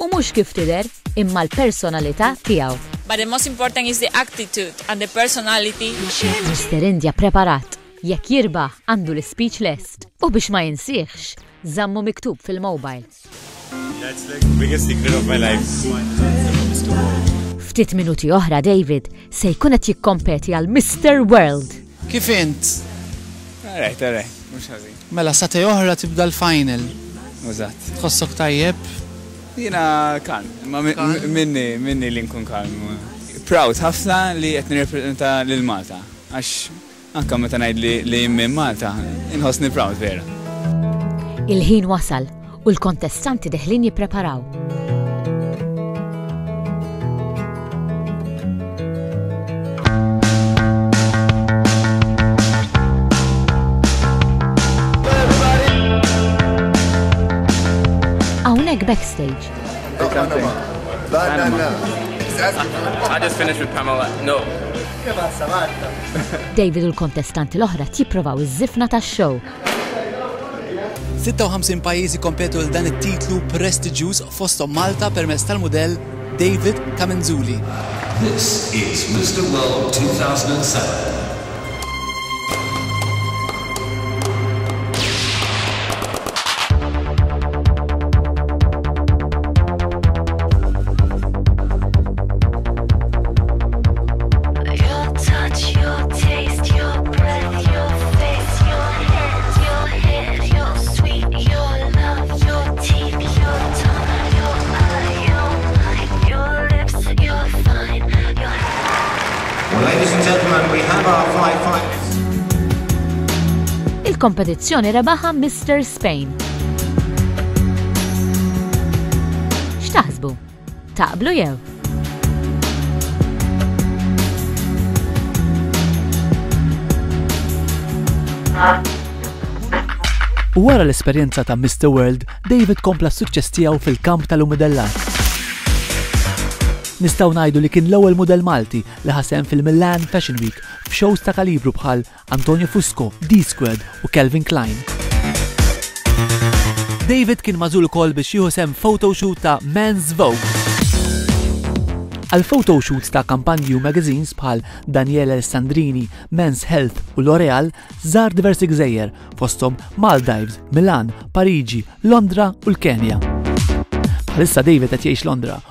U mhux kif tidher, imma l-personalità tiegħu. But the most important is the attitude and the personality. Mister India preparat, jekk jirbaħ għandu l-ispeech lest. U biex ma jinsiehx, żammu miktub fil-mobile. That's like the biggest secret of my life. Ftit minuti oħra David se jkun qed jikkompeti għal Mister World. Kif int? Alright, alright, mhux ħażin. Mela satej oħra tibda l-final. Eżatt. Tħossok tajjeb? Jiena kalm, imma minni minni li nkun kalm. Proud ħafna li qed nirrepreżenta lil Malta għax anke meta ngħid li minn Malta inħossni proud vera. Il-ħin wasal U l-kontestanti deħlin jippreparaw. backstage. It's something. Banana. I just finished with Pamela. No. David u l-kontestanti l-oħra tipprovaw iż-żifna tax-show. 56 pajjiż ikkompetu għal dan it-titlu prestiġjuż fosthom Malta permezz tal-mudell David Camenzuli. This is Mr. World 2007. Il-kompetizzjoni rebaħa Mister Spain. X'taħsbu? Taqblu jew? Wara l-esperjenza ta' Mr. World, David kompla s-suċċess tiegħu fil-kamp tal-umidellat. Nistgħu ngħidu li kien l-ewwel mudell Malti li ħasem fil-Milan Fashion Week f'shows ta' kalibru bħal Antonio Fusco, D-Squared u Calvin Klein. David kien magħżul ukoll biex jieħu sehem f'photoshoot ta' Men's Vogue. Għal photoshoots ta' kampanji u magazines bħal Daniele Alessandrini, Men's Health u L'Oreal żar diversi gżejjer, fosthom Maldives, Milan, Pariġi, Londra u l-Kenja. Bħalissa David qed jgħix Londra